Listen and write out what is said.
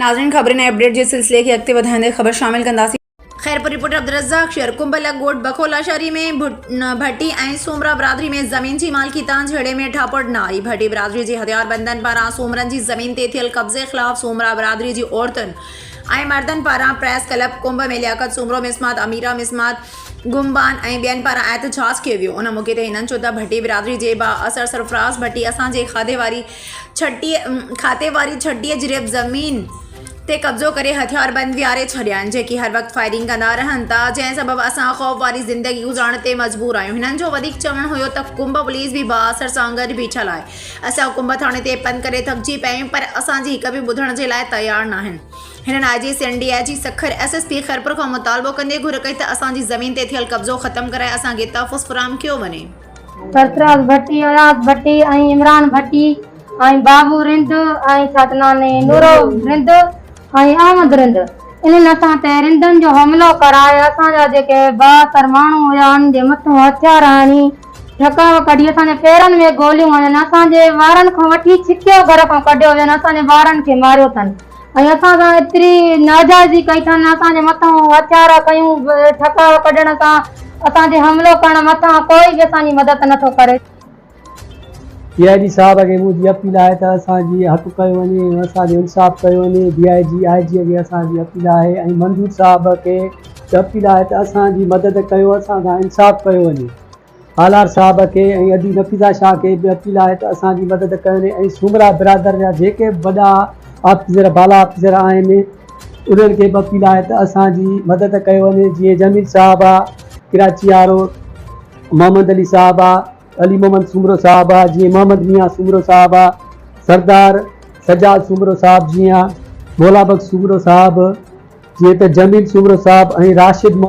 ناظرين خبرن ۽ اپڊيٽ جي سلسلي کي اڳتي وڌائيندي خبر شامل ڪنداسين. خيرپور، رپورٽر عبدالرزاق شير، ڪنڀلڪ ڳوٺ بکولا شھري ۾ ڀٽي ۽ سومرا برادري ۾ زمين جي مالڪي تان جھيڙي ۾ ٺاپڙ ناري، ڀٽي برادري جي ھٿياربندن پاران سومرن جي زمين تي ٿيل قبضي خلاف سومرا برادري جي عورتن ۽ مردن پاران پريس ڪلب ڪنڀ ۾ لياقت سومرو مسمات اميره مسمات گمبان ۽ ٻين پاران احتجاج ڪيو ويو ان موقعي تي هنن چيو ته ڀٽي برادري جي بااثر سرفراز ڀٽي اسان جي کاڌي واري ڇٽيء کاتي واري ڇٽيء جريب زمين تي قبضو ڪري هٿياربند ويهاري ڇڏيا آهن، جيڪي هر وقت فائرنگ ڪندا رهن ٿا، جنهن سبب اسان خوف واري زندگي گذارڻ تي مجبور آهيون. هنن جو وڌيڪ چوڻ هيو ته ڪنڀ پوليس به بااثر سان گڏ بيٺل آهي. اسان ڪنڀ ٿاڻي تي پنڌ ڪري ٿڪجي پيا آهيون پر اسان جي هڪ به ٻڌڻ جي لاء تيار ناهن. هنن I G Sindh, D I G Sukkur, S S P Khairpur کان مطالبو ڪندي گهر ڪئي ته اسان جي زمين تي ٿيل قبضو ختم ڪرائي اسان کي تحفظ فراهم ڪيو وڃي. سرفراز ڀٽي، اياز ڀٽي ۽ عمران ڀٽي ۽ بابو رند ۽ ڇا ته ناني نورو رند ۽ احمد رند انهن اسان تي رندن جو حملو ڪرائي اسان جا جيڪي بااثر ماڻهو هيا انهن جي مٿون هٿيار هڻي ڍڪاء ڪڍي اسان جي پيرن ۾ گوليون هنيون اسان جي ٻارن کان وٺي ڇڪيو گهر کان ڪڍيو وين اسان جي ٻارن کي ماريو اٿن ۽ اسان سان ايتري ناجائزي ڪئي اٿن، اسان جي مٿان هٿيار کنيون به ٺڪاء ڪڍڻ سان اسان تي حملو ڪرڻ مٿان ڪوئي به اسان جي مدد نه ٿو ڪري. ڊي آء جي صاحب کي منهنجي اپيل آهي ته اسان جي حق ڪيو وڃي ۽ اسان جو انصاف ڪيو وڃي، ڊي آء جي، آء جي کي اسان جي اپيل آهي ۽ منظور صاحب کي به اپيل آهي ته اسان جي مدد ڪيو، اسان سان انصاف ڪيو وڃي. هالار صاحب کي ۽ ادي نفيسا شاهه کي به اپيل آهي ته اسان جي مدد ڪن ۽ سومرا برادر جا جيڪي به وڏا آفيسر بالا آفيسر آهن انهن کي به اپيل آهي ته اسان جي مدد ڪئي وڃي جيئن جميل صاحب آ ڪراچي وارو محمد علي صاحب آ علي محمد سومرو صاحب آ جيئن محمد ميان سومرو صاحب آ سردار سجاد سومرو صاحب جيئن مولا بخش سومرو صاحب جيئن ته جميل سومرو صاحب ۽ راشد